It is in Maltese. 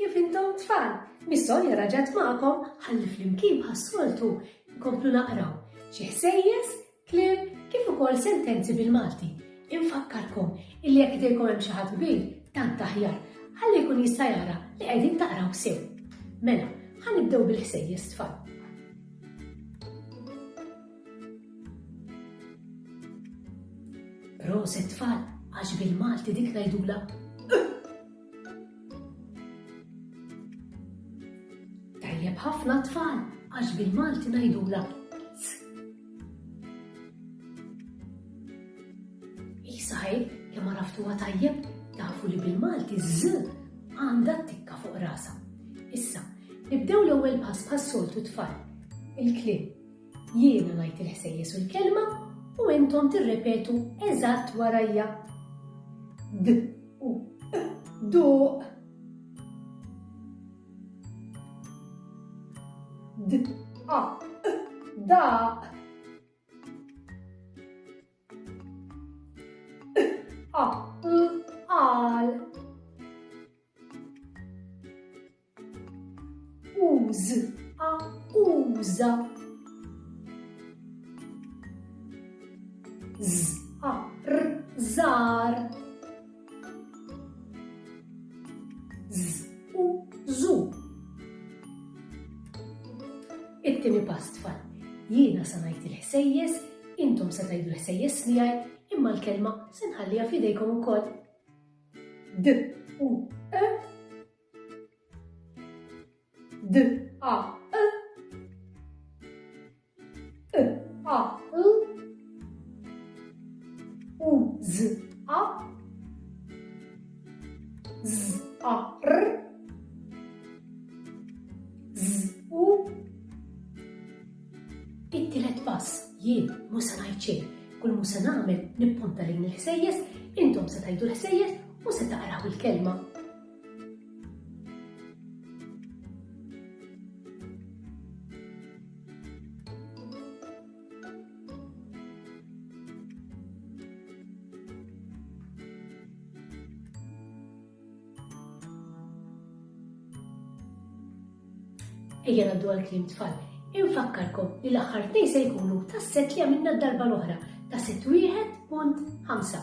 Kif intom tfal, mis-solja raġat magħkom ħalli flimkien bħas-soltu nkomplu naqraw xi ħsejjes, kliem kif ukoll sentenzi bil-Malti. Infakkarkom illi jekk idejkom hemm xi ħadd kbir, tant aħjar, ħalli jkun jista' jara li qegħdin taqraw sew. Mela, ħanibdew bil-ħsejjes tfal. Proset tfal għax bil-Malti dik ngħidulha Tajjeb ħafna tfal għax bil-Malti ngħidulha Isaj, kemm għaraftuha tajjeb, tafu li bil-Malti z għandha tikka fuq rasa. Issa, nibdew l-ewwel pass bħas-soltu tfal. Il-klim Jiena ngħid il-ħsejjes u l-kelma u intom tirrepetu eżatt warajja. D u e, duq. D a e, daq. E, a l qal. Uż, a uża. Z, a r, zar. Z, u, zu. It-tieni pass tfal. Jiena sa ngħid il-ħsejjes, intom se tgħidu l-ħsejjes miegħi, imma l-kelma se nħalliha f'idejkom ukoll. D, u, e, D A E E A L U Z A Z A R Z U It-tielet pass jien mhux se ngħid xejn. Kull mhux se nagħmel nippunta lejn il-ħsejjes, intom se tgħidu l-ħsejjes u se taqraw il-kelma. Ejja ngħaddu għall-kliem tfal. Infakkarkom li l-aħħar tnejn se jkunu tas-set li għamilna d-darba l-oħra ta' set wieħed punt ħamsa.